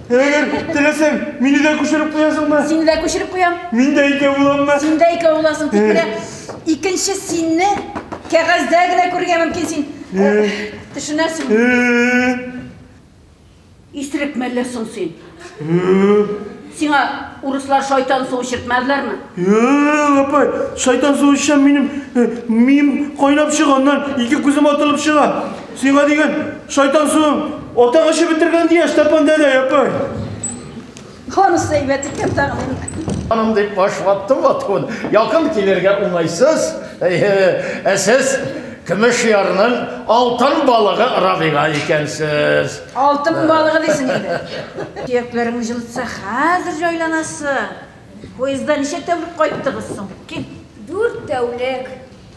Әгәр теләсәң, мине дә күчереп куясыңмы? Сине дә күчереп куям. Мин дә икәү буламмы? Син дә икәү буласың. Тик менә икенче синне кәгазьдә генә күрергә мөмкин син. Төшенәсең. Исерек мәллә соң син. Сиңа урыслар шайтан суы чиртмәделәрме? Апай, шайтан суы эчсәм, минем мием кайнап чыга, аннан ике күзем атылып чыга. Сиңа дигән шайтан суын атаң эчеп бетергән дия, Степан дәдә, япай. Ханысы әйбәт икән тагын инде. Ханым дип башлаттым атуын. Якын килергә уңайсыз. Ә сез көмеш ярның алтын балыгы Рабига икәнсез. Алтын балыгы дисең инде. Сөякләрең җылытса, хәзер җайланасың. Поездда ничә тәүлек кайттыгыз соң? Кил. Дүрт тәүлек.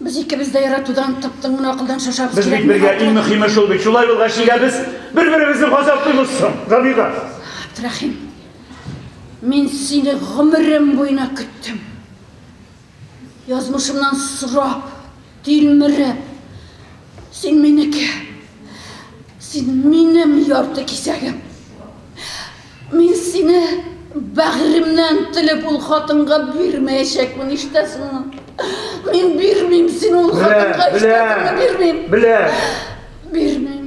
Без икебез дә яратудан, тып-тын гына акылдан шашабыз. Без бит бергә, иң мөхиме шул бит. Шулай булгач, нигә без бер-беребезне газаплыйбыз соң, Рабига? Абдрахим, мин сине гомерем буена көттем. Язмышымнан сорап, тилмереп. Син минеке. Син минем ярты кисәгем. Мин сине бәгыремнән телеп ул хатынга бирмәячәкмен, ишетәсеңме? Мин бирмим сине ул хатынга, ишетәсеңме, бирмим! Беләм! Бирмим!